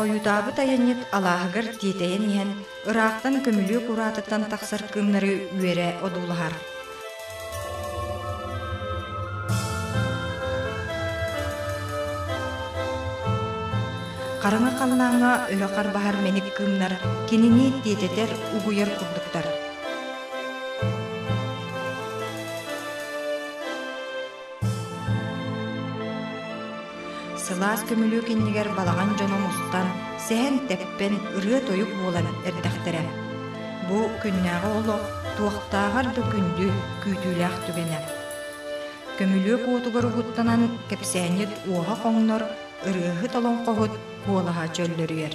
Хойутаабыт айанньыт алааһыгар тиэтэйэн иһэн, ыраахтан көмүлүөк ураатыттан тахсар кыымнары үөрэ одуулаһар Хараҥа халыҥаҥҥа өрө харбаһар мэник кыымнар кинини тиэтэтэр, угуйар курдуктар. Сылаас көмүлүөк иннигэр балаҕан дьоно мустан, сэһэн-тэппэн, ырыа-тойук буолан эрдэхтэрэ. Бу күннээҕи олох туохтааҕар да күндү, күүтүүлээх түгэнэ. Көмүлүөк уотугар угуттанан кэпсээнньит уоһа хоҥнор, ырыаһыт олоҥхоһут куолаһа чөллөрүйэр.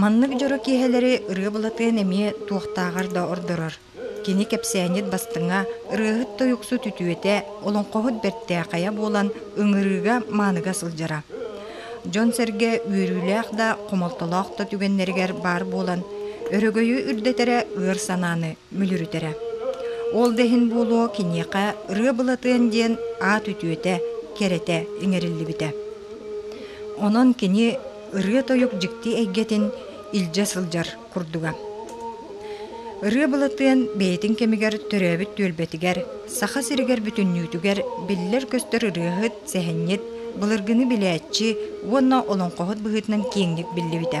Маннык дьоро киэһэлэри ырыа Былатыан эмиэ туохтааҕар да ордорор. Кини кэпсээнньит бастыҥа, ырыаһыт тойуксут үтүөтэ, олоҥхоһут бэртээхэйэ буолан ыҥырыыга мааныга сылдьара. Дьон-сэргэ үөрүүлээх да, хомолтолоох да түгэннэригэр баар буолан, өрөгөйү үрдэтэрэ ыар санааны, мүлүрүтэрэ. Ол да иһин буолуо киниэхэ Ырыа Былатыан диэн аат үтүөтэ, кэрэтэ иҥэриллибитэ. Онон кини ырыа-тойук дьикти эйгэтин илдьэ сылдьар курдуга. Ырыа Былатыан бэйэтин кэмигэр төрөөбүт түөлбэтигэр, Саха сиригэр бүтүннүүтүгэр биллэр-көстөр ырыаһыт, сэһэнньит, былыргыны билээччи уонна олоҥхоһут быһыытынан киэҥник биллибитэ.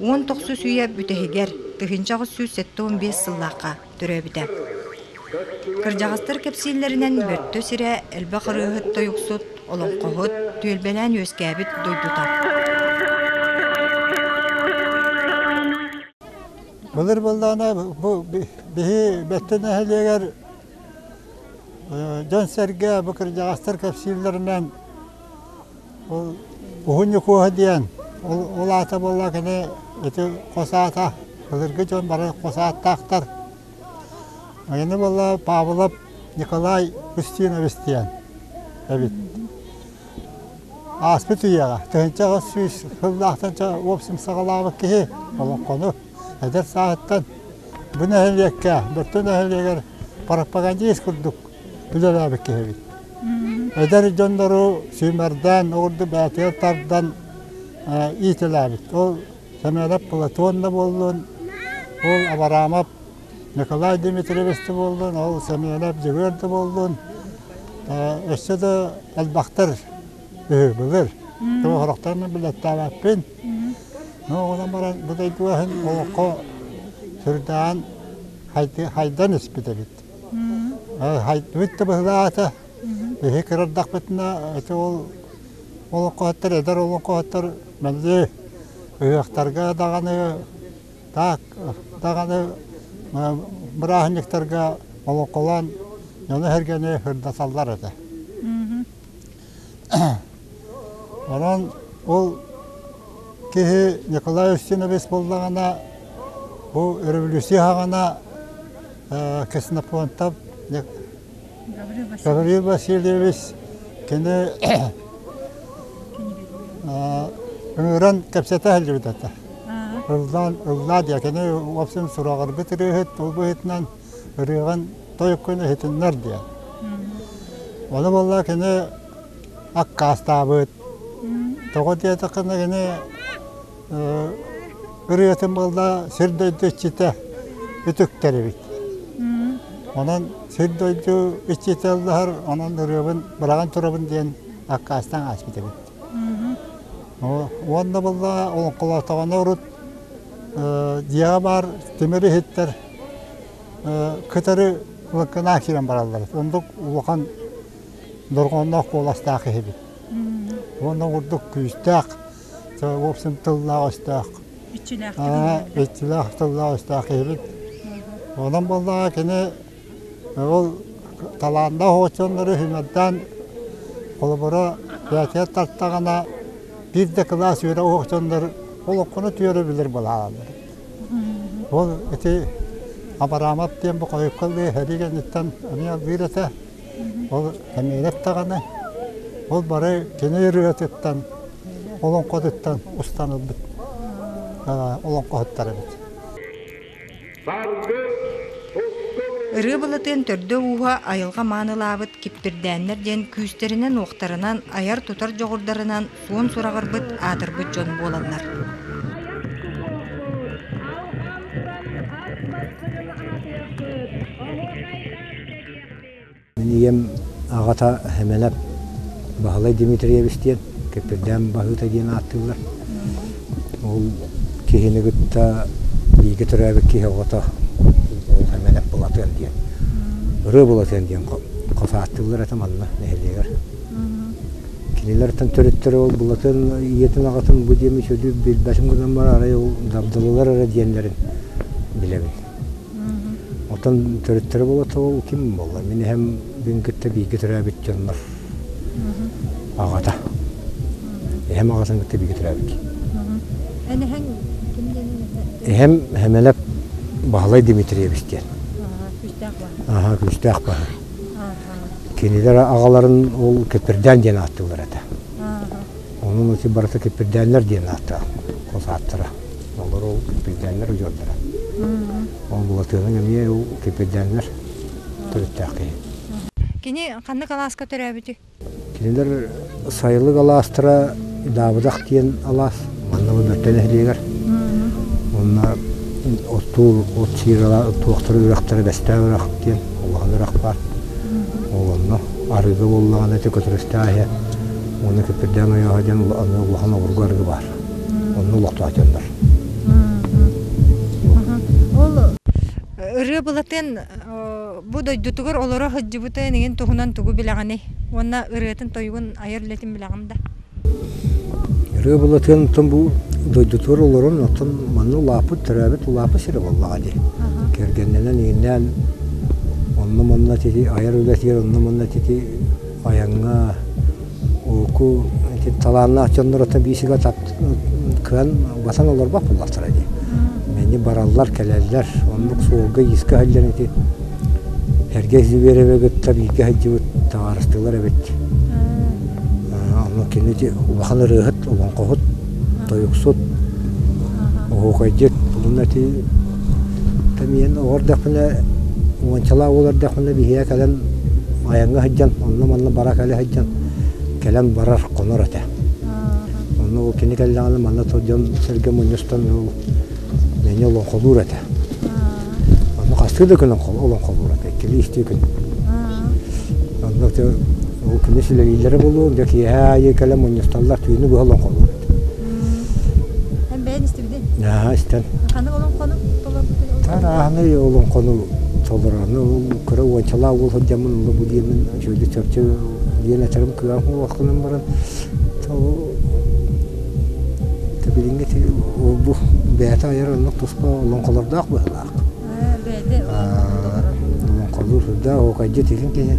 Уон тохсус үйэ бүтэһигэр, тыһыынча аҕыс сүүс сэттэ уон биэс сыллаахха төрөөбүтэ. Кырдьаҕастар кэпсииллэринэн Бөртө сирэ элбэх ырыаһыт тойуксут, олоҥхоһут, түөлбэлээн үөскээбит дойдута. Былыр быллаана бу биһи Бэттэ нэһилиэгэр дьон-сэргэ бу кырдьаҕастар кэпсииллэринэн Ол уһун Ньукуоһа диэн, ол аата буолла кини ити хос аата, былыргы дьон бары хос ааттаахтар. Аны буолла Павлов Николай Устинович диэн эбит. Ааспыт үйэҕэ тыһыынча аҕыс сүүс сыллаахтан уопсум саҕалаабыт киһи олоҥхону эдэр сааһыттан бу нэһилиэккэ, Бөттө нэһилиэгэр пропагандист курдук үлэлээбит киһибит. Эдэр дьоннору сүүмэрдээн, ол курдук бээтигэр тардан иитэлээбит. Ол Сэмэнэп Платон да буоллун, ол Абараамап Николай Дмитриевич да буоллун, ол Сэмэнэп Дьөгүөр да буоллун, өссө да элбэхтэр үһү былыр. Сорохторун билэттээбэппин. Онон баран бу дойду аһын олоххо сүрдээн хайдан испит эбит. Хайдыбыт да быһылаата. Биһи кырардахпытына ити ол олоҥхоһуттар, эдэр олоҥхоһуттар мэлдьи ыһыахтарга даҕаны так даҕаны бырааһынньыктарга олоҥхолоон дьону-сэргэни ырдаталлар этэ. Онон ол киһи Николай Устинович буоллаҕына бу революция хаҕана Ксенофонтов Гаврил Васильевич кини ыҥыран кэпсэтэ сылдьыбыт этэ. Ыллаа ыллаа диэ кини в общем сураҕырбыт ырыаһыт ол быһыытынан ырыаҕын тойуккун иһитиннэр диэн. Ону буолла кини аккаастаабыт. Тоҕо диэтэххинэ кини ырыатын буолла сир дойду иччитэ үтүктэрибит. Онон сир дойду иччитэ ыллаһар, онон ырыабын быраҕан турабын диэн аккаастаан ааспыт эбит. Уонна буолла олоҥхолоотоҕуна урут дьиэҕэ баар тимир иһиттэр кытары лыккынаа киирэн бараллар. Ондук улахан дорҕоонноох куоластаах киһибит. Уонна курдук күүстээх, в общем, тыллаах-өстөөх. Иччилээх тыллаах-өстөөх киһибит. Онон буоллаҕа кини ол талааннаах очоннору үһүмэрдээн холобура бээтигэр тартаҕына биир да кылаас үөрэ очоннор олоххуна түөрэ билэр балааланнар. Ол ити Абрамов диэн бу хойукка лыы сэрии кэнниттэн эмиэ лыыр этэ. Ол кэмиэрэ даҕаны ол бары кини ырыатыттан, олоҥхотуттан устан ылбыт олоҥхоһуттар эбит. Ырыа Былатыан төрдө ууһа айылҕа маанылаабыт Киппирдээннэр диэн күүстэринэн-уохтарынан, айар-тутар дьоҕурдарынан суон сураҕырбыт, аатырбыт дьон буоланнар. Мин ийэм аҕата Хэмэлэп Баһылай Дмитриевич диэн Кэппирдээн Баһыыта диэн ааттыыллар. Ол киһини кытта бииргэ төрөөбүт киһи оҕото Хэмэлэп Былатыан диэн, Ырыа Былатыан диэн хос ааттыыллар этэ манна нэһилиэгэр. Кинилэртэн төрүттэрэ ол Булатын ийэтин-аҕатын бу диэми чөлү билбэтим гынан баран арай ол Дабдылылар эрэ диэннэрин билэбин. Оттон төрүттэрэ буолата ол ким буолла? Мин эһэм бүгүн кытта бииргэ төрөөбүт дьоннор аҕата. Эһэм аҕатын кытта бииргэ төрөөбүт. Эн эһэҥ ким диэн эһэм Хэмэлэп Баһылай Дмитриевич диэн. Күүстээх баһа. Аха, күүстээх баһа. Кинилэр аҕаларын ол Кипирдээн диэн ааттыыллар этэ. Онон ити барыта Кипирдээннэр диэн ааттаах хос ааттара. Олору ол Кипирдээннэр удьуордара. Ол Булатыаның эмиэ ол Кипирдээннэр төрүттээх киһи. Кини ханнык алааска төрөөбүтүй? Кинилэр сайылык алаастара Даабыдах диэн алаас манна Бөртө нэһилиэгэр. Уонна оттуур от сиирала туохтара үрэхтэрэ Бэстээх үрэх диэн улахан үрэх баар. Онно арыгы буоллаҕына Төкөтүрэстээх иһэ уонна Күппүрдээн ойооһо диэн аны улахан обургу арыгы баар. Онно олохтоох дьоннор. Ол ырыа Былатыан Бу дойдутугар олоро сылдьыбыта инигин туһунан тугу билэҕиний? Уонна ырыатын-тойугун айар үлэтин билэҕин да? Ырыа былатыан оттон бу дойдутугар олорон оттон манна улааппыт төрөөбүт улааппыт сирэ буоллаҕа дии. Кэргэннэнэн ииннээн онно-манна тити айар үлэтигэр онно-манна тити айаҥҥа Уку ити талааннаах дьонноруттан биисигэ кыан угатан олорбот буоллахтара дии. Мени бараллар, кэлэллэр. Оннук суолга иискэ сылдьан ити эргэ Звереве кытта бииргэ сылдьыбыт таҥаарыстыылар эбит. Ону кини улахан ырыаһыт, олоҥхоһут, тойуксут, оһуокайдьыт, булун эти Тэмийэн оҕо эрдэхпинэ, уончалаах уол эрдэхпинэ биһиэхэ кэлэн айаҥҥа сылдьан, онно-манна бара кэлэ сылдьан кэлэн барар, хонор этэ. Онно ол кини кэллэҕинэ манна сылдьан сэргэ мунньустан ол мэҥэ олоҥхолуур этэ. Онно хастыы да күн олоҥхолуур этэ, иккилии-үстүү күн. Онно ол күнү силэбииллэрэ буолуо, дьэ киэһэ аайы кэлэн мунньусталлар, түүнү быһа олоҥхолуур этэ. Наһаа истэн. Ханы олоҥхону Тарааһыны олоҥхону толораны кыра уончалаа уол сылдьаммын олу бу диэмин чөлү чөпчө диэн эчэрим кыам уохтунан баран билиҥҥи бу бэйэтэ айар оннук туспа олоҥхолордоох быһыылаах. Бэйэтэ олоҥхолуур сырдаах окайдьыт илин киһи.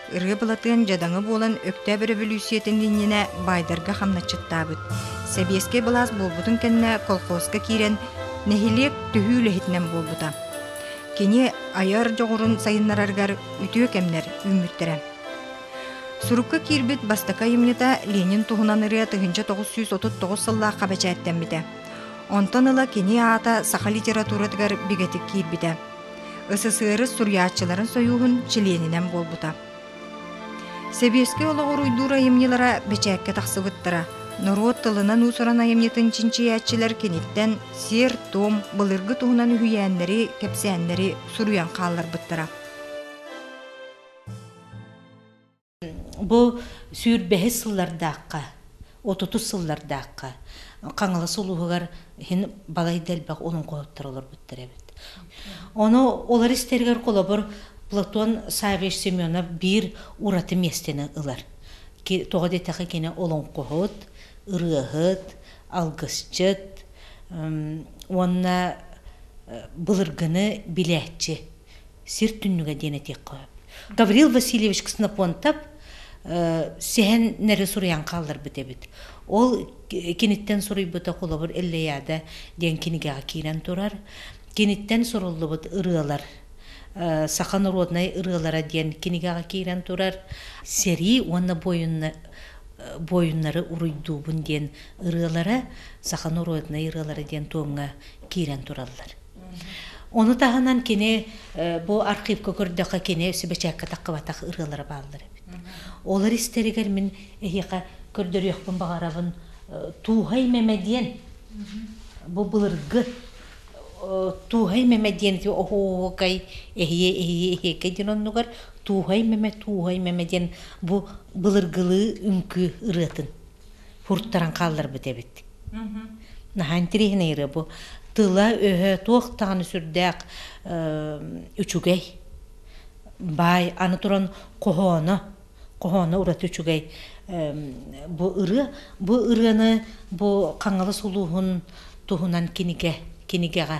Ырыа Былатыан дьадаҥы буолан Өктөөп өрөбөлүүссүйэтин иннинэ баайдарга хамначчыттаабыт. Сэбиэскэй былаас буолбутун кэннэ колхозка киирэн, нэһилиэк төһүү үлэһитинэн буолбута. Кини айар дьоҕурун сайыннараргар үтүө кэмнэр үүммүттэрэ. Сурукка киирбит бастакы айымньыта Ленин туһунан ырыа тыһыынча тоҕус сүүс отут тоҕус сыллаахха бэчээттэммитэ. Онтон ыла кини аата саха литературатыгар бигэтик киирбитэ. СССР суруйааччыларын сойууһун чилиэнинэн буолбута. Сэбиэскэй олоҕор уйдуур айымньылара бэчээккэ тахсыбыттара. Норуот тылынан уусуран айымньытын чинчийээччилэр киниттэн сиэр-туом, былыргы туһунан үһүйээннэри, кэпсээннэри суруйан хаалларбыттара. Бу сүүр бэһис сыллардаахха, отутус сыллардаахха Хаҥалас улууһугар иһин балайда элбэх олоҥхоһуттар олорбуттар эбит. Ону олор истэригэр холобур Платон Саввич Семенов биир ураты миэстэни ылар. Тоҕо диэтэххэ кини олоҥхоһут, ырыаһыт, алгысчыт уонна былыргыны билээччи сир түннүгэ диэн этиэххэ сөп гаврил васильевич ксенопонтов сэһэннэри суруйан хаалларбыт эбит ол киниттэн суруйбута холобур эллияда диэн кинигэҕэ киирэн турар киниттэн суруллубут ырыалар саха норуодунай ырыалара диэн кинигэҕэ киирэн турар сэрии уонна буойуннары уруйдуубун диэн ырыалара саха норуодунай ырыалара диэн туомҥа киирэн тураллар Оны таһынан кини бу архивка көрдөхө кини сүбэчэккэ тахқыбатах ырыалары бааллар эбит. Олар истэригэр мин эһиэхэ көрдөрүөхпүн баҕарабын Туухай Мэмэ диэн бу былыргы Туухай Мэмэ диэн оһуокай эһиэ эһиэ эһиэкэ диэн оннугар Туухай Мэмэ Туухай Мэмэ диэн бу былыргылыы үҥкүү ырыатын фурттаран хаалларбыт эбит наһаа интириэһинэй ырыа бу тыла-өһө туох даҕаны сүрдээх үчүгэй баай аны туран хоһооно хоһооно ураты үчүгэй бу ырыа бу ырыаны бу хаҥалас улууһун туһунан кинигэ кинигэҕэ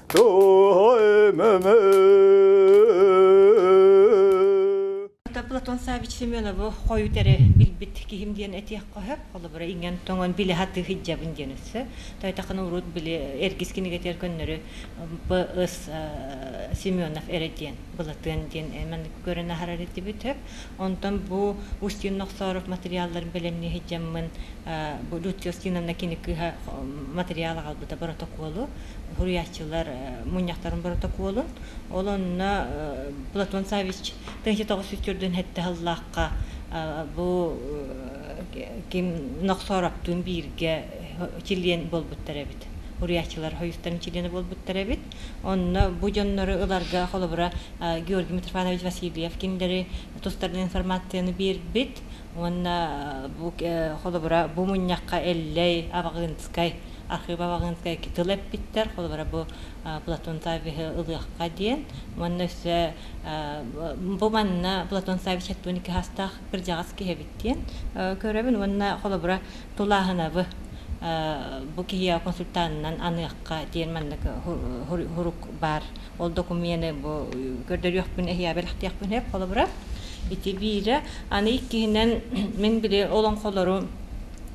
Платон Савич Семенову хойут эрэ билбит киһим диэн этиэх қоһы. Холобура иңен тоңон биле хаты хиджабын диэн өссө. Тойтақыны урут биле эргис кинигетер көннөрү Б.С. Семенов эре диэн, Былатыан диэн эман көрөн ахарар етибит Онтон бу Устин Нохсоров материалларын бэлэмнии сылдьаммын, бу Людмила Устиновна кини кыыһа материал аҕалбыта боротокуолу, суруйааччылар мунньахтарын боротокуолун. Ол онно Платон Савич тыһыынча тоҕус сүүс төрдүн сэттэ сыллаахха бу ким Нохсороптуун бииргэ чилиэн буолбуттар эбит. Суруйааччылар хойустан чилиэнэ буолбуттар эбит. Онно бу дьоннору ыларга холобура Георгий Митрофанович Васильев кинилэри тустарынан информацияны биэрбит уонна бу холобура бу мунньахха Эллэй Абаҕынскай архыыба Абаҕынскай тыл эппиттэр холобура бу Платон Саввиһы ылыахха диэн уонна өссө бу манна Платон Саввич алтыан икки саастаах кырдьаҕас киһи эбит диэн көрөбүн уонна холобура Тулааһынабы бу киһи консультантынан аныахха диэн маннык хурук баар. Ол документы бу көрдөрүөхпүн эһия бэлэхтиэхпин эп холобура. Ити биирэ аны иккиһинэн мин били олоҥхолору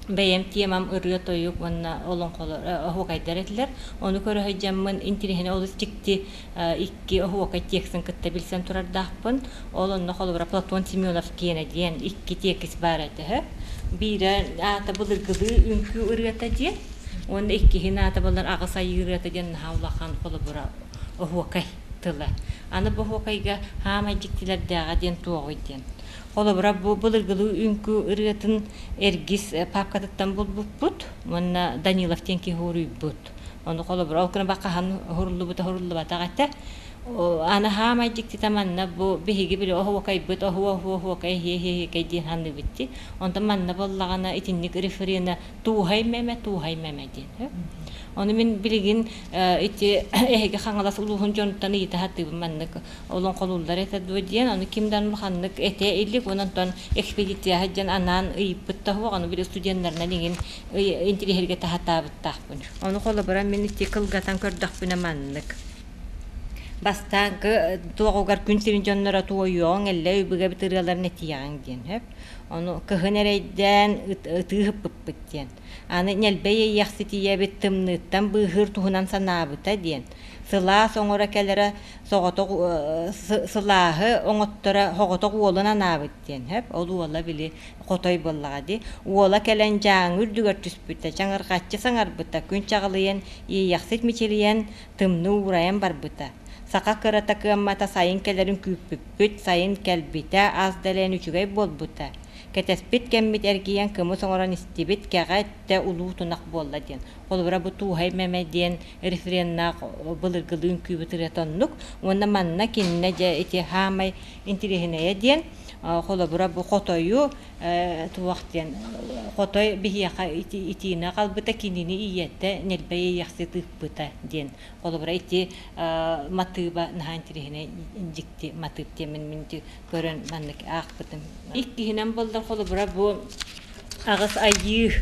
бэйэм темам ырыа-тойук уонна олоҥхолор оһуокайдар этилэр. Ону көрө сылдьаммын интириэһинэ олус дьикти Икки оһуока текстын кытта билсэн турардаахпын. Ол онно холобура Платон Семенов киэнэ диэн икки тиэкис баара төһө. Биирэ аата былыргылыы үҥкүү ырыата диэн, уонна иккиһин аата балар аҕыс айыы ырыата диэн наһаа улахан холобура оһуокай тыла. Аны бу оһуокайга хаамай дьиктилэрдээҕэ диэн туоҕуй диэн. Холобура бу былыргылыы үҥкүү ырыатын эргис папкатыттан булбуппут уонна Данилов диэн киһи уруйбут. Оны холобура ол күн бака хан хуруллубута хуруллубатах этэ. Аны хаамай дьиктита манна бу биһиги били оһуокайбыт оһуо оһуо оһуокай хие хие кей диэн ханныбытти. Онтон манна боллагана итинник референа туухай меме туухай меме диэн. Оны мин билигин ити эһиги хаҥалас улууһун дьонуттан ыйыта хатыыбын маннык олон холууллар этэ дуо диэн аны ким дан ханнык эте илик ононтон экспедицияһа дьан анаан ыйыппыт таһуох аны били студеннарынан иҥин интириэһиргэ таһатаабыттаахпын. Ону холобура мин ити кылгатан көрдөхпүнэ маннык. Бастаан туоҕугар күн сирин дьонноро туойуоҕуҥ, эллэ өйбүгэбит ырыаларын этиэҕиҥ диэн. Сөп? Ону кыһын эрэйдээн ытыы ыһыппыппыт диэн. Аны ньэлбэй эйиэхситийэбит тымныыттан быыһыыр туһунан санаабыта диэн. Сылаас оҥоро кэлэрэ соҕотох сылааһы оҥотторо соҕотох уолун анаабыт диэн сөп ол уола били хотой буоллаҕа дии уола кэлэн дьааҥы үрдүгэр түспүтэ чаҥырҕаччы саҥарбыта күн чаҕылыйан иэйэхсит мичилийэн тымныы уурайан барбыта саха кырата кыаммата сайын кэлэрин күүппүппүт сайын кэлбитэ ас дэлээн үчүгэй буолбута кэтэспит кэммит эргийэн кымыс оҥорон истибит кэҕэ өттө улуу тунах буолла диэн холобура бу туухай мэмэ диэн рефреннээх былыргылыын күүбүт ырыата оннук уонна манна кининэ дьэ ити хаамай интириэһинэйэ диэн холобура бу хотою туох диэн хотой биһиэхэ итиинэ хаалбыта кинини ийэтэ ньирбэй иэхсит ыыппыта диэн холобура ити матыыба наһаа интириэһинэй дикти матыып диэмин мин көрөн маннык аахпытым иккиһинэн болдон холобура бу аҕыс айыы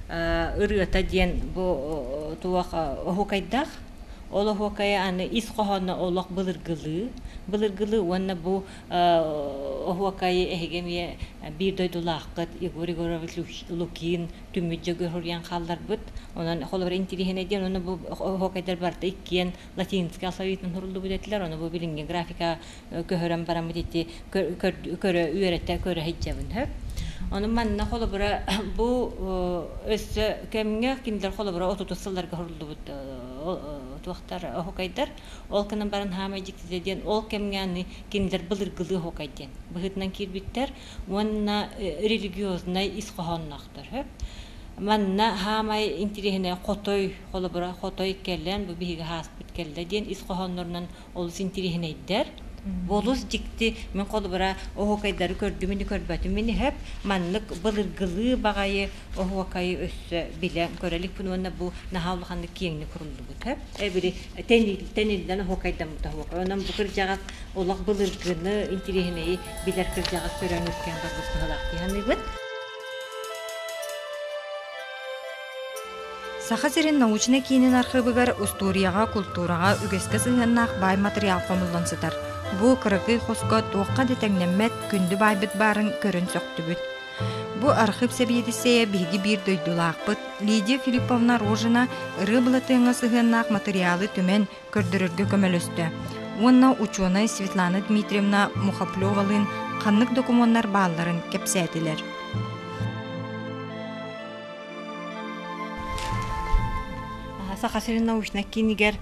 ырыата диэн бу туох оһукайдаах Олоһуокайа аны ис хоһооно олох былыргылыы, былыргылыы уонна бу оһуокайы эһиги эмиэ биир дойдулааххыт Егор Егорович Лукин түмүт дьөгүһүрүйэн хаалларбыт. Онон холобура интириэһинэй диэн ону бу оһуокайдар барыта иккиэн латинскай алфавитынан суруллубут этилэр. Ону бу билиҥҥи графика көһөрөн бараммыт ити көрө үөрэтэ көрө сылдьабын сөп ону манна холобура бу өссө кэмҥэ кинилэр холобура отутус сылларга суруллубут туохтар оһукайдар ол гынан баран хаамай дьиктитэ диэн ол кэмҥэ аны кинилэр былыргылыы оһукай диэн быһыытынан киирбиттэр уонна религиознай ис хоһоонноохтор сөп манна хаамай интириэһинэй хотой холобура хотой кэлэн бу биһиги ааспыт кэллэ диэн ис хоһооннорунан олус интириэһинэйдэр. Олус дьикти, мин холобура оһуокайдары көрдүм ини көрбөтүм мин иһэп маннык былыргылыы баҕайы оһуокайы өссө билэ көрө иликпин уонна бу наһаа улаханнык киэҥник куруллубут иһэп эбири тэниллэн оһуокайдаммыт оһуокай онон бу кырдьаҕас олох былыргыны интириэһинэйи билэр кырдьаҕас көрөн үркээн барбыт быһалаах дии саныыбын Саха сирин научнай киинин архыыбыгар устуоруйаҕа, култуураҕа үгэскэ сыһыаннаах баай матырыйаал хомуллан сытар. Бу кыракый хоско туохха да тэҥнэммэт, күндү баайбыт баарын көрөн сөхтүбүт. Бу архыып сэбиэдиссэйэ биһиги биир дойдулаахпыт Лидия Филипповна Рожина ырыа-былатыаҥҥа сыһыаннаах матырыйаалы түмэн, көрдөрөргө көмөлөстө уонна учуонай Светлана Дмитриевна Мухоплевалыын ханнык докумуоннар баалларын кэпсээтилэр. Саха сирин научнай киинигэр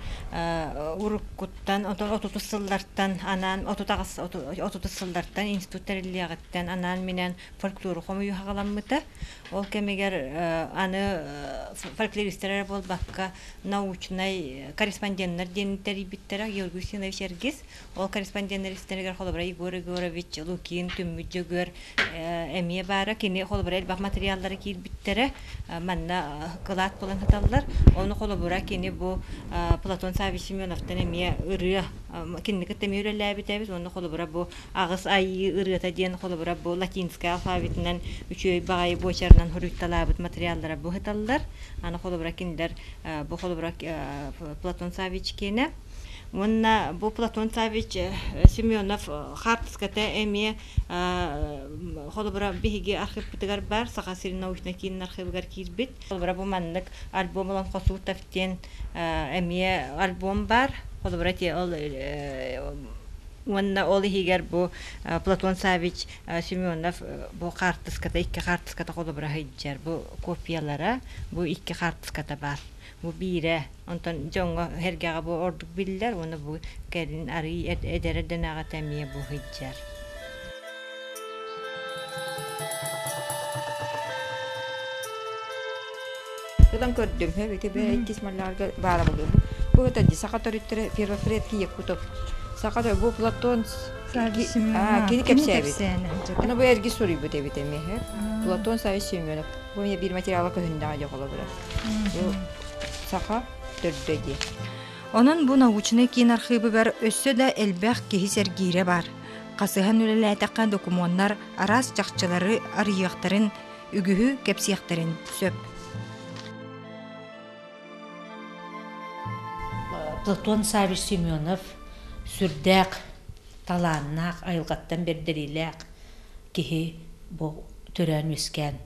уруккуттан отутус сыллартан анаан отутас сыллартан институт тэриллиэҕиттэн анаан минэн фольклор хомуйу хаҕаламмыта Ол кэмигэр аны фольклористтар эрэ буолбакка, научнай корреспонденнар диэн тэрийбиттэрэ Георгий Устинович Эргис. Ол корреспонденнар истэригэр холобура Егор Егорович, Лукин, Түммүт Дьөгүөр эмиэ баара. Кини холобура элбэх материаллара киирбиттэрэ. Манна кылаат булан сыталлар. Ону холобура кини бу Платон Саввий Семеновтан эмиэ ырыа, кинини кытта эмиэ үлэлээбит эбит. Уонна холобура бу Аҕыс айыы ырыата диэн холобура бу латинскай алфавитынан үчүгэй баҕайы буочарынан хоруйталаабыт материаллара быһыталлар. Аны холобура кинилэр бу холобура Платон Савич киэнэ. Уонна бу Платон Савич Семенов хаартыската эмиэ холобура биһиги архыыппытыгар баар Саха сирин научнай киинин архыыбыгар киирбит. Холобура бу маннык альбом ылан Хосутов диэн эмиэ альбом баар. Холобура ол Уонна ол иһигэр бу Платон Саввич Семенов бу хаартыската икки хаартыската холобура сылдьар. Бу копиялара, бу икки хаартыската баар. Бу биирэ, онтон дьоҥҥо, сэргэҕэ бу ордук биллэр, уонна бу кэлин арыый эдэр эрдэнэҕитэ эмиэ бу сылдьар. Ытан көрдүҥ, итиби иккис малларга баарабылыыбын. Бу это саха төрүттэрэ первопредки еккутов. Саха тобу Платон кини кэпсээбит. Аны бу эрги суруйбут эбит эмиһэ. Платон Савич Семенов. Бу мне бир материала көһүндэҕэ жоғола быра. Саха төрдө ди. Онон бу научный кинархыбыгар өссө да элбэх киһи сергире бар. Хасыһан үлэлээтэххэ докумуоннар араас чахчылары арыйыахтарын, үгүһү кэпсиэхтэрин сөп. Платон Савич Семенов сүрдээх талааннаах, айылҕаттан бэрдэриилээх киһи бу төрөөн-үөскээн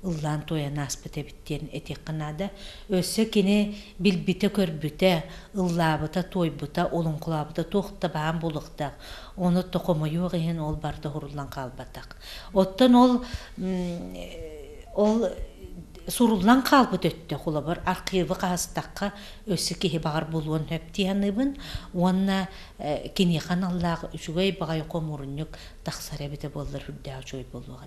ыллаан-туойан ааспыт эбит диэн этиэххэ наада. Өссө кини билбитэ-көрбүтэ, ыллаабыта-туойбута, олоҥхолообута туох да баан буолуохтаах, ону токомойуох иһин ол барыта уһуруллан хаалбатах. Оттон ол ол суруллан хаалбыт өттөх улабыр архивы хаһыстахха өссө киһи баҕар булуон сөп дии саныыбын уонна киниэхэ аналлаах үчүгэй баҕайы хомуурунньук тахсар эбитэ буоллар үрдээх үчүгэй буолуоҕа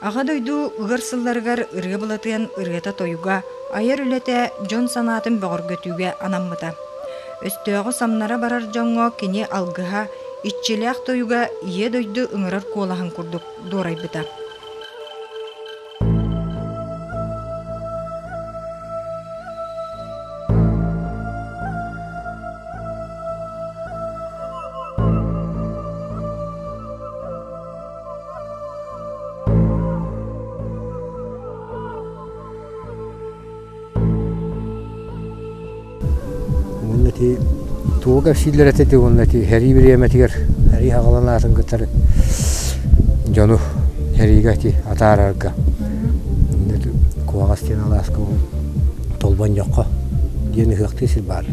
Аҕа дойду ыар сылларыгар ырыа былатыан ырыата-тойуга, айар үлэтэ дьон санаатын бөҕөргөтүүгэ анаммыта. Өстөөҕү самнара барар дьоҥҥо кини алгыһа, иччилээх тойуга Ийэ дойду ыҥырар куолаһын курдук дуорайбыта. Уонна ити туога силлер этэ уонна ити хэрии бириэмэтигэр хэрии хагалан аатын кытары дьону хэриигэ ити атаарарга куһаҕас диэн алааска толбон жокко диэн ыһыахтыы сир баар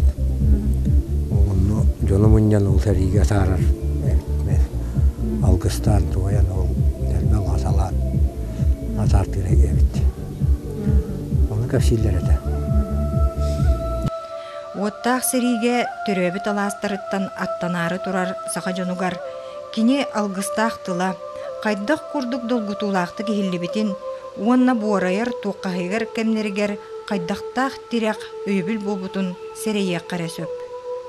онно дьону мунньан ол хэриигэ атаарар Алгыстаан туойан ол нөрбө маасалаан атаартыыра эбит. Ону кэпсииллэр этэ. Уоттаах сэриигэ төрөөбүт алаастарыттан аттанаары турар саха дьонугар кини алгыстаах тыла, хайдах курдук долгутуулаахтык иһиллибитин уонна буорайар туоххаһыгар кэмнэригэр хайдахтаах тирэх өйөбүл буолбутун сэрэйиэххэ эрэ сөп.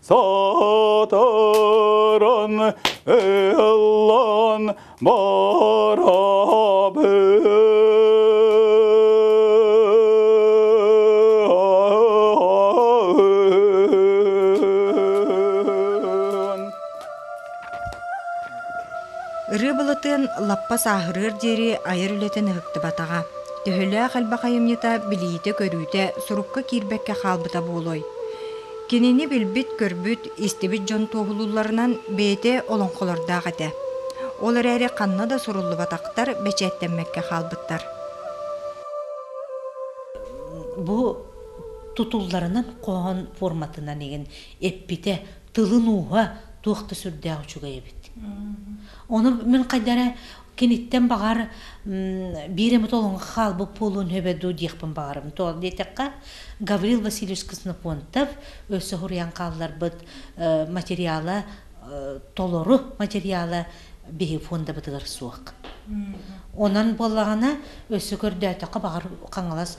Сатаран ыллан барабын. Ырыы былытын лаппа сааһырыар диэри айар үлэтин ыһыктыбатаҕа. Төһөлөөх элбэх айымньыта билиитэ-көрүүтэ сурукка киирбэккэ хаалбыта буолуой? Кинини билбит-көрбүт, истибит дьон туоһулуулларынан бэйэтэ олоҥхолордоох этэ. Ол эрээри ханна да суруллубатахтар, бэчээттэммэккэ хаалбыттар. Бу тутулларынан хоһоон форматынан игин эппитэ тылын ууһа туох да сүрдээх үчүгэй эбит. Ону мин хайдара киниттэн баҕар биир эмэ толоҥго хаалбыт буолуон хөбө дуу диэхпин баҕарым то диэтэххэ гаврил васильевич коснофонтов өссө хуруйан хаалларбыт материала толору материала биһи фондабытыгар суох онон буоллаҕына өссө көрдөөтөххө баҕар хаҥалас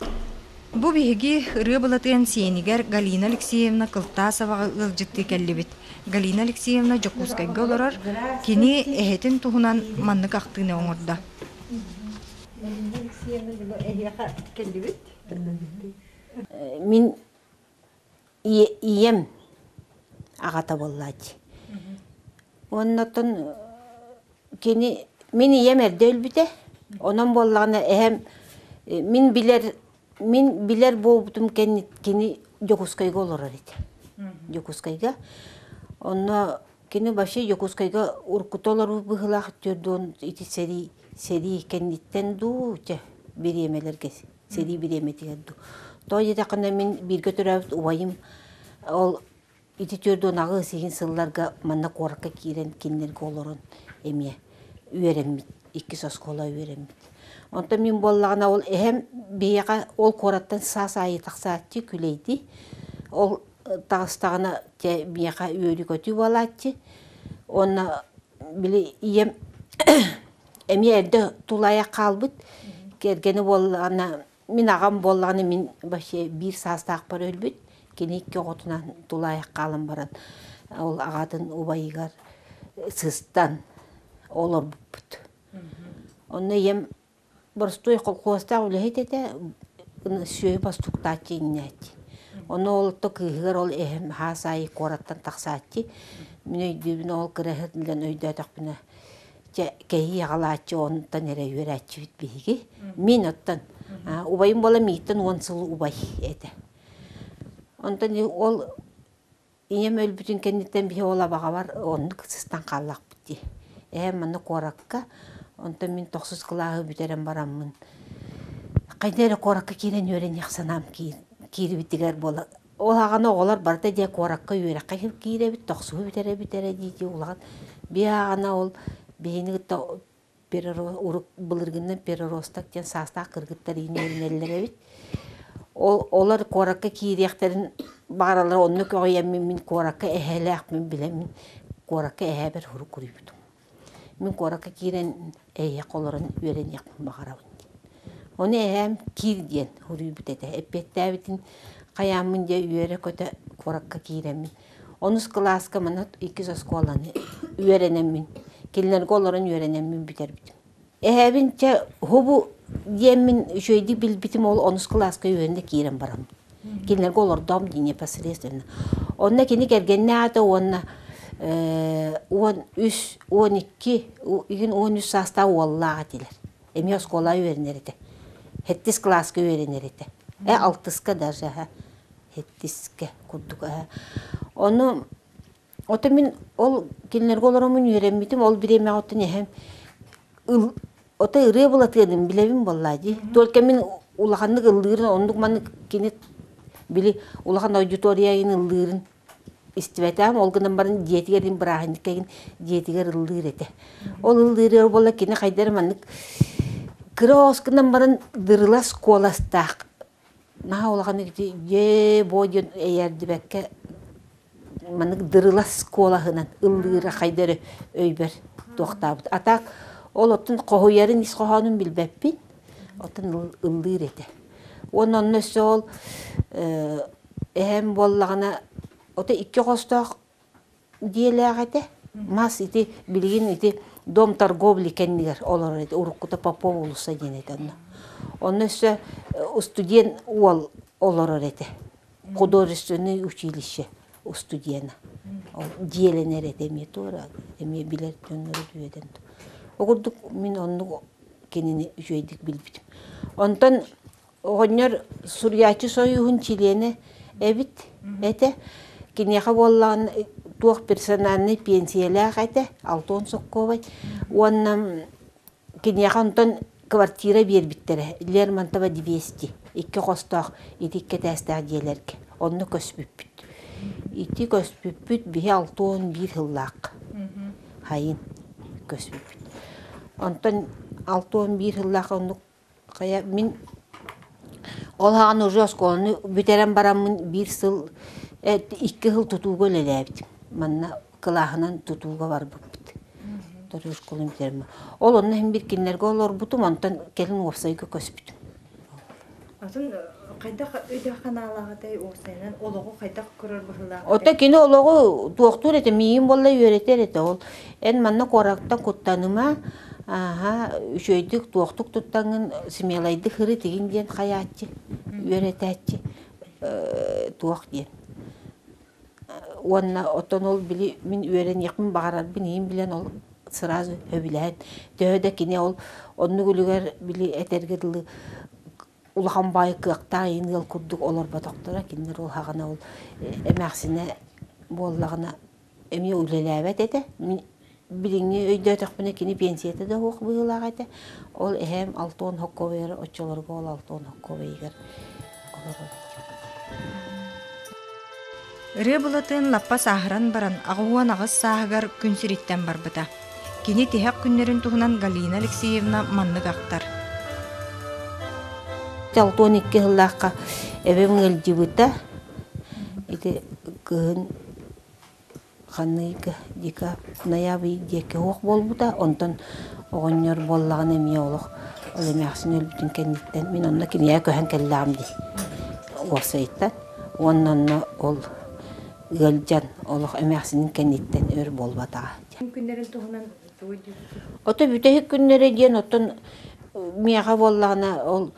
Бу биһиги ырыа-былатыан сиэнигэр Галина Алексеевна Кылтаасоваҕа ыалдьыттыы кэллибит. Галина Алексеевна Дьокуускайга олорор, кини эһэтин туһунан маннык ахтыыны оҥордо. Галина Алексеевна дьону эһиэхэ кэллибит? Мин ийэм аҕата буоллааччы. Уонна оттон кини мин ийэм эрдэ өлбүтэ. Онон буоллаҕына эһэм мин билэр мин билэр буолбутум кини Дьокуускайга олорор этэ. Дьокуускайга. Онно кини вообще Дьокуускайга уруккута олорор быһыылаах төрдүн ити сэрии сэрии кэнниттэн дуу, чэ, бириэмэлэргэ сэрии бириэмэтигэр ду то диэтэххинэ мин бииргэ төрөөбүт убайым ол ити төрдуонаҕы сиһин сылларга манна куоракка киирэн кинилэргэ олорон эмиэ үөрэммит иккис оскуола үөрэммит онтон мин буоллаҕына ол эһэм биһиэхэ ол куораттан саас аайы тахсааччы күлэйди ол таҕыстаҕына те миэхэ үөрү көтүү буолааччы уонна били ийэм эмиэ эрдэ тулайа хаалбыт кэргэни буоллаҕына мин аҕам буоллаҕына мин вообще биир саастаахпар өлбүт кини икки оҕотунан тулаайах хаалан баран ол аҕатын убайыгар сыстан олорбуппут онно ийэм Боростуой колхозтаах үлэһит этэ, сүөһү бостуктааччы иҥнээччи. Ону олорто кыыһыгар ол эһэм хаас аайы куораттан тахсааччы. Мин өйдүүбүн ол кыраһыат билэн өйдөөтөхпүнэ чэ кэһии аҕалааччы онтон эрэ үөрээччибит биһиги. Мин оттон убайым буолан миигиттэн уон сыл убай этэ. Онтон ол Ийэм өлбүтүн кэнниттэн биһи ол абаҕабар оннук сыстан хааллахпыт дии. Эһэм манна куоракка, онтон мин тохсус кылааһы бүтэрэн бараммын, хайда эрэ куоракка киирэн үөрэниэх санаам киирибитигэр буола ол аҕаны оҕолор барыта дьэ куоракка үөрэххэ киирэбит, тохсуһу бүтэрэ бүтэрэ дии-дии улахан бии аҕана ол биһини кытта былыргыннан переросток диэн саастаах кыргыттар иинэринэллэр эбит ол олор куоракка киириэхтэрин бааралара оннук аҕыйаммын мин куоракка эһээлээхпин билэмин куоракка эһээбэр урук уруйбутум мин куоракка киирэн эйиэхэ олорон үөрэниэхпин баҕарабын ону эһээм киир диэн уруйбут этэ эппиэттээбитин хайааммын дьэ үөрэ-көтө куоракка киирэммин Онус кылааска манат иккис оскуоланы үөрэнэммин, кинилэргэ олорон үөрэнэммин бүтэрбитим. Эһэбин чэ уһубу диэммин үчүгэйдик билбитим ол онус кылааска үөрэнэ киирэн барам. Кинилэргэ олордоом дии непосредственно. Онно кини кэргэннээтэ уонна э, уон үс, он икки, игин он үс саастаах уоллаах этилэр. Эмиэ оскуола үөрэнэр этэ. Хэттис кылааска үөрэнэр этэ. Э алтыска даже аһа. Хэттискэ курдук аһа. Ону оту мин ол кинилэргэ олороммун үөрэммитим, ол бириэмэҕэ оттон эһэм ыл ота ырыа булатыадым билэбин буоллаа дии. Только мин улаханнык ыллыырын оннук маннык кини били улахан аудитория айын ыллыырын истибэтэм, ол гынан баран дьиэтигэр мин бырааһынньыкка игин дьиэтигэр ыллыыр этэ. Ол ыллыырыа буола кини хайдары маннык кырос гынан баран дырылас куоластаах наһаа улахан ити дьэ бо диэн эйэрдибэккэ маннык дырылас куолаһынан ыллыыра хайдары өйбөр туохтаабыт. А так ол оттон хоһуйарын ис хоһоонун билбэппин, оттон ыллыыр этэ. Уонна онно өссө ол Эһэм буоллаҕына, ото икки хостоох дьиэлээх этэ. Мас ити билигин ити дом торговли кэннигэр олорор этэ. Уруккута Попов уулусса диэн этэ онно. Онно өссө устудьуон уол олорор этэ. Художественное училище устудьуона. Ол дьиэлэнэр этэ эмиэ туора. Эмиэ билэр дьонноро үөдэн. Ол курдук мин оннук кинини үчүгэйдик билбитим. Онтон Оҕонньор Суруйааччы союһун чилиэнэ эбит этэ. Киниэхэ буоллаҕына туох персональнай пенсиялаах этэ, Антон Сокковай. Уонна киниэхэ онтон квартира биэрбиттэрэ Лермонтова 200, икки хостоох итик кэтээстээх дьиэлэргэ. Онно көспүппүт. Ити көспүппүт биһи Алтон биир сыллаах. Хайын көспүппүт. Онтон Алтон биир сыллаах оннук Хайа мин ол ааҕан уже оскуоланы бүтэрэн бараммын биир сыл э, икки сыл тутууга үлэлээбитим. Манна кылааһынан тутууга барбыппыт. Тутуу школун бүтэрэн Ол онно иһин бир кинилэргэ олорбутум, онтон кэлин уопсайга көспүтүм. Атын э, хайдах өйдөөх ханаалааҕытай уопсайынан олоҕу хайдах көрөр быһыылаах? Ото кини олоҕу туохтуур этэ, миигин буолла үөрэтэр этэ ол. Эн манна куораттан куттаныма, ааһа үчүөйдүк туохтук туттаҥын смелайдык һыры тигиҥ диэн хайааччы үөрэтээччи туох диэн уонна оттон ол били мин үөрэниэхпин баҕарарбын иһин билэн ол сразу сөбүлээн төһө да кини ол оннук үлүгэр били этэргэ дылы улахан баай кыахтаах ийин ыал курдук олорботохторо кинилэр ол хаҕына ол эмээхсинэ буоллаҕына эмиэ үлэлээбэт этэ мин билиҥҥи өйдөөтөхпүнэ кини пенсията да суох быһыылаах этэ ол эһээм алтон хоккуобайар оччолорго ол алтон хоккуобайыгар олорор Ырыа Былатыын лаппа сааһыран баран аҕыһыан аҕыс сааһыгар күн сириттэн барбыта. Кини тиһэх күннэрин туһунан Галина Алексеевна маннык ахтар. Алтон икки сыллаахха эбэм ыалдьыбыта. Ити кыһын Ханыыка, дика, ноябрь диэки оһох буолбута. Онтон оҕонньор буоллаҕына эмиэ олох ол эмээхсин өлбүтүн кэнниттэн мин онно кинигэ көһөн кэллэҕим дии. Уопсайыттан уонна онно ол ыалдьан олох эмээхсинин кэнниттэн өр буолбатаҕа. Күн күннэрин туһунан Ото бүтэһик күннэрэ диэн оттон миэхэ буоллаҕына ол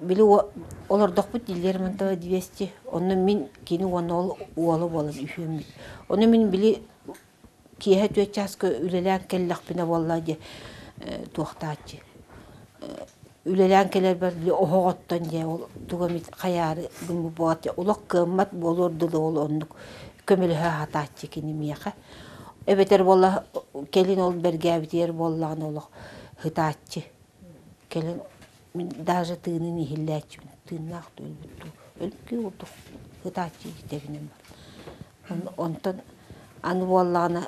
били олордохпут дииллэр мантан двести онно мин кини уонна ол уола буолан үһүөммүт ону мин били киэһэ түөрт чааска үлэлээн кэллэхпинэ буоллаа диэ туохтааччы үлэлээн кэлэрбэр оһоҕоттон дьэ ол тугу эмит хайаары булбут олох кыаммат буолуор дылы ол оннук көмөлөһө сатааччы кини миэхэ эбэтэр буола кэлин ол бэргээбитигэр буоллаҕына олох сытааччы кэлин мин даже тыынын иһиллээччибин тыыннаах да өлбүт дуу өлгүү курдук сытааччы дьитэбинэн бар Онтон аны буоллаҕына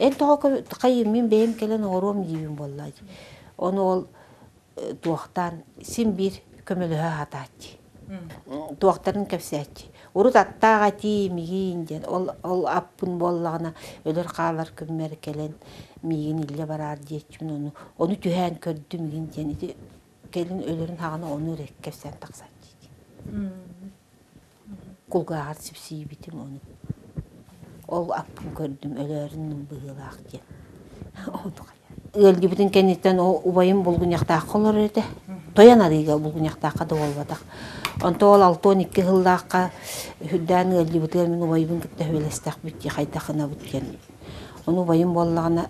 эн тоҕо хайыыммын бэйэм кэлэн оҕоруом диибин буоллаа дии. Ону ол туохтаан син биир көмөлөһө сатааччы. Туохтарын кэпсээччи. Урут аттаах этии миигин диэн ол ол аппын буоллаҕына өлөр-хаалар күммэр кэлэн миигин иллэ бараар диэччим ону ону түһээн көрдүм миигин диэн ити кэлин өлөрүн хаҕана ону эрэ кэпсээн тахсааччы дии. кулгааҕар сипсийбитим ону ол аппын көрдүм өлөөрүн быһыылаах диэн ыалдьыбытын кэнниттэн ол убайым булгунньахтаахха олорор этэ тойон арыыга булгунньахтаахха да буолбатах онто ол алта он икки сыллаахха үрдээн ыалдьыбытыгар мин убайбын кытта сүбэлэстэхпит дии хайдах гынабыт диэн ону убайым буоллаҕына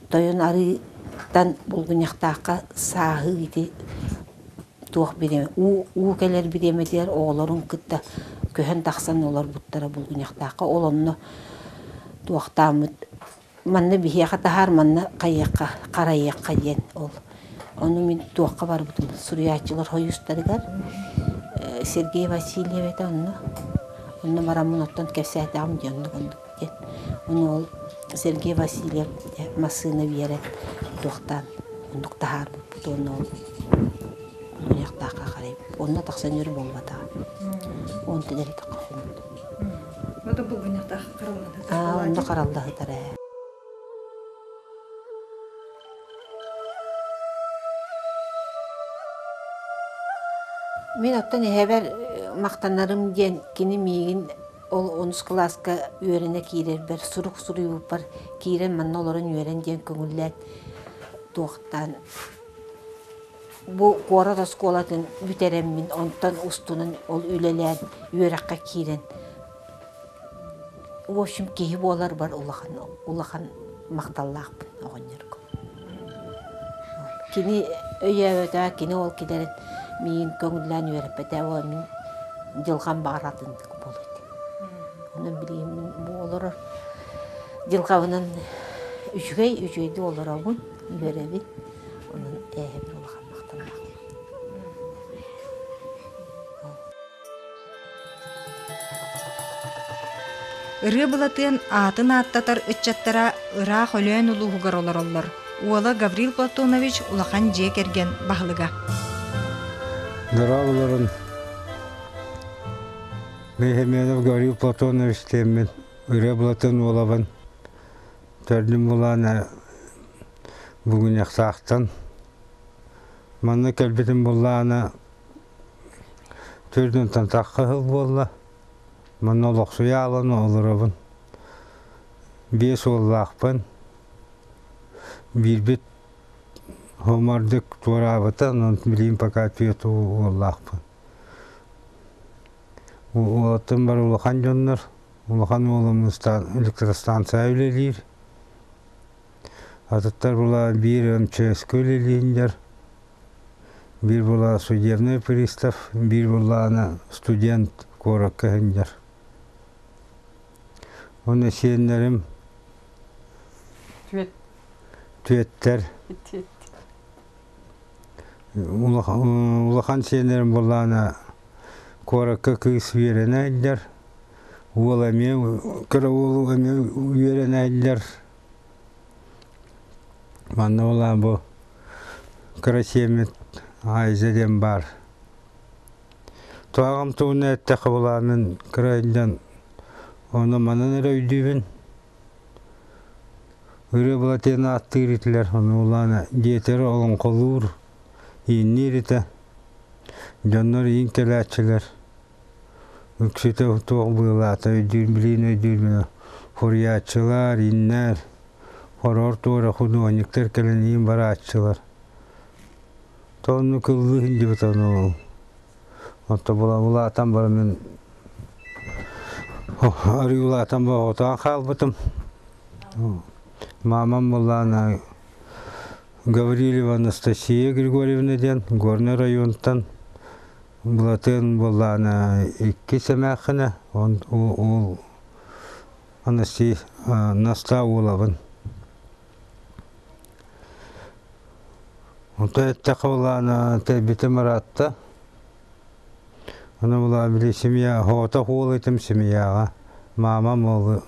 тойон арыытан булгунньахтаахха сааһы ити туох бириэмэ уу уу кэлэр бириэмэтигэр оҕолорун кытта көһөн тахсан олорбуттара булгуньахтаахха ол онно туохтааммыт манна биһиэхэ таһаар манна хайыахха харайыахха диэн ол ону мин туохха барбытым суруйааччылар хойуустарыгар Сергей Васильев этэ онно онно бараммын оттон кэпсээтэҕим диэн онно курдук диэн. Ону ол Сергей Васильев массыына биэрэн туохтаан оннук таһаарбыппыт уонна ол ылыахтаахха харай онно тахсан өр буолбатаҕа. Онтон элбэххэ хоммут. Ото булгуннахтаах хараллаһытар. Аа, онно хараллаһытар ээ. Мин оттон эһэбэр махтанарым диэн кини миигин Ол онус кылааска үөрэнэ киирэрбэр сурук суруйбуппар киирэн манна олорон үөрэн диэн көҥүллээт туохтаан бу куорат оскуолатын бүтэрэммин онтон устунан ол үлэлээн үөрэххэ киирэн в общем киһи буоларбар улахан улахан махталлаахпын оҕонньорго Кини өйөөбөтө, кини ол кэлэрин миигин көҥүллээн үөрэппитэ, ол мин дьылҕам баҕаратын буолуо этэ. Онон билигин бу олорор дьылҕабынан үчүгэй, үчүгэйдик олоробун, үөрэбин. Онон эһэм улахан махталлаах. Ырыа Былатыан аатын ааттатар ыччаттара ыраах Өлөөн улууһугар олороллор. Уола Гаврил Платонович улахан дьиэ кэргэн баһылыга. Дораабыларын Мехмедов Гаврил Платонович диэммин, Ырыа Былатыан уолабын төрдүм булаан бүгүнэхсаахтан манна кэлбитим буллаана Төрдүнтэн тахха сыл буолла. Манна олохсуйа аалан олоробун. Биэс уоллаахпын. Биирбит хомордук туораабыта, онон билигин пока түөрт уоллаахпын. Уолаттан бары улахан дьоннор. Улахан уолум электростанция үлэлиир. Атыттар була биир он чөөскөл илииннер, биир була судебный пристав, биир буллаана студент куоракка хынньар. Уонна сиэннэрим Түөт. түөттэр Түөт. улахан улахан сиэннэрим буллаана куоракка кыыс үөрэнэллэр. Уол эмиэ кыра уол эмиэ үөрэнэллэр. Манна ол аан бу кыра сиэммит Айза диэн баар. Туһаҕым тугуна эттэххэ булаанын кыра иллэн ону манан эрэ өйдүүбүн. Ырыа былатыан ааттыыр этилэр, ону улаана диэтэр олоҥхолуур, иинниир этэ. Дьоннор иин кэлээччилэр. Ыксыта туох быылаата өйдүүр-билиин өйдүүрбүнэ фурияччылар, иннэр, хороор туора худуоһунньуктар кэлэн иин барааччылар. То онну кыллыы иһиллибит ону онто була улаатан баран мин арыылаатан боһоотоон хаалбытым. Маамам буоллаана Гаврилева Анастасия Григорьевна диэн Горнай оройуонтан Былатын буоллаана иккис эмээххинэ, он уол Анастей Настаа уолабын. Онтон эттэхэ булаана тэрбитэ маратта. Аны була били семья хоотох уол этим семьяға. Мама молы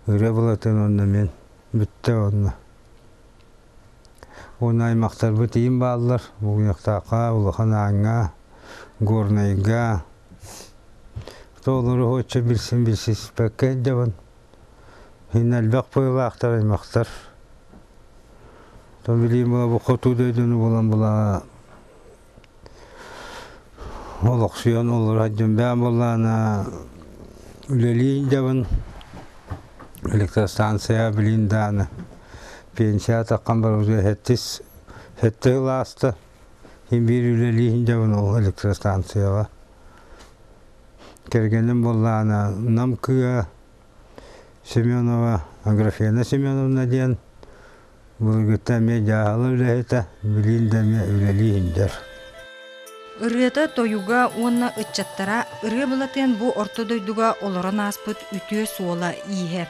ыры былатын онна мен бүтте онна. Уонна аймахтарбыт ийим бааллар. Бугуньахтаахха, Улахан Ааҥҥа, Горнайга. Тоолору оччо билсин билсиспэккэ ирдэбин. Мин элбэх быһыылаахтар аймахтар. То билим бу хоту дойдуну булан була олохсуйан олораддым бэйэм буоллаана үлэлии идэбин электростанция билин дааны пенсия таккан барбытыгар сэттис сэттэ ыл ааста мин биир үлэлии идэбин ол электростанцияҕа кэргэним буоллаана Нам кыа Семенова Аграфена Семеновна диэн Былыргыта эмиэ дьааһыла үлэһитэ, билиин да эмиэ үлэлии иһиллэр. Ырыата тойуга уонна ыччаттара ырыа былатыан бу орто дойдуга олорон ааспыт үтүө суола-ииһэ.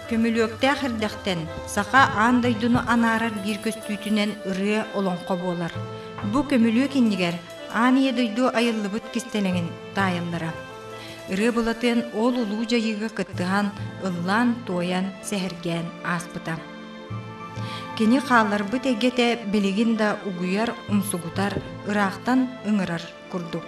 Көмүлүөктээх эрдэхтэн саха аан дойдуну анаарар биир көстүүтүнэн ырыа олоҥхо буолар. Бу көмүлүөк иннигэр аан ийэ дойду айыллыбыт кистэлэҥин таайаллара. Ырыа Былатыан ол улуу дьайыыга кыттыһан, ыллаан-туойан, сэһэргээн ааспыта. Кини хаалларбыт эйгэтэ билигин да угуйар, умсугутар, ыраахтан ыҥырар курдук.